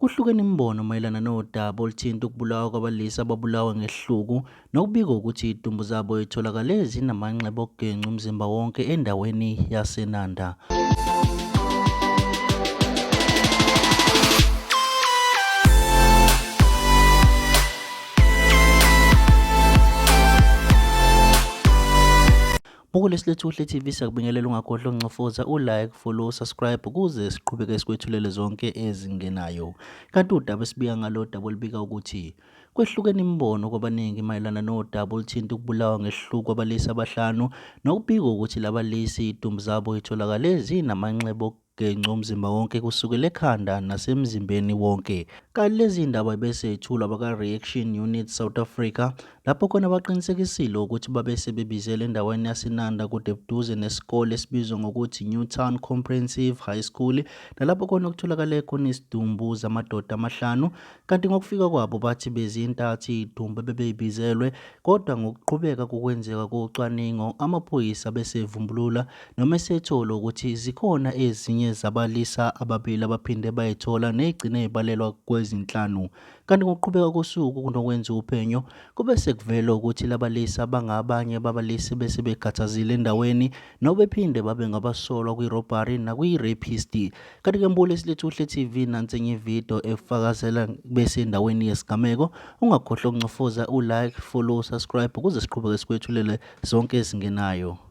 Kuhlukene imibono mayelana nodaba oluthinta ukubulawa kwabalisa ababulawa ngehluku nokubikwa ukuthi idumbu zabo itholakale zinamanxeba okugenca umzimba wonke endaweni yaseNanda. Buku lesilethu Kuhle TV siyakubingelela ungagodla uncofoza ulike follow subscribe ukuze siqhubeke sikwethulele zonke ezingenayo kanti udaba esibiya ngalo daba olubika ukuthi kwehlukene imibono kwabaningi mayelana nodaba oluthinta ukubulawa ngehluku abalisi abahlanu nokubikwa ukuthi labalisi idumbu zabo itholakale zinamanxeba Genca umzimba wonke kusukela ekhanda nasemzimbeni wonke. Kanti lezi ndaba ibesethulwa abaka-Reaction Unit South Africa lapho khona baqinisekisile ukuthi babe sebebizele endaweni yaseNanda kude buduze nesikole esibizwa ngokuthi Newtown Comprehensive High School nalapho khona okutholakale khona isidumbu zamadoda amahlanu kanti ngokufika kwabo bathi bezintathi idumbu ebebeyibizelwe kodwa ngokuqhubeka kokwenzeka kocwaningo amaphoyisa besevumbulula Noma esethola ukuthi zikhona ezinye zabalisa ababili abaphinde bayithola negcine ibalelwa kwezinhlanu. Kanti ngokuqhubeka kosuku kunokwenza uphenyo kube sekuvela ukuthi labalisa bangabanye babalisi bese bekhathazile endaweni nobephinde babe ngabasolwa kwi-robbery nakwi-rapist. Kanti ke mbule silethe uhle TV nansi enye ividiyo efakazela besendaweni yesigameko. Ungakhohlwa ukuncofoza u-like, follow, subscribe ukuze siqhubeke sikwethulele zonke ezingenayo.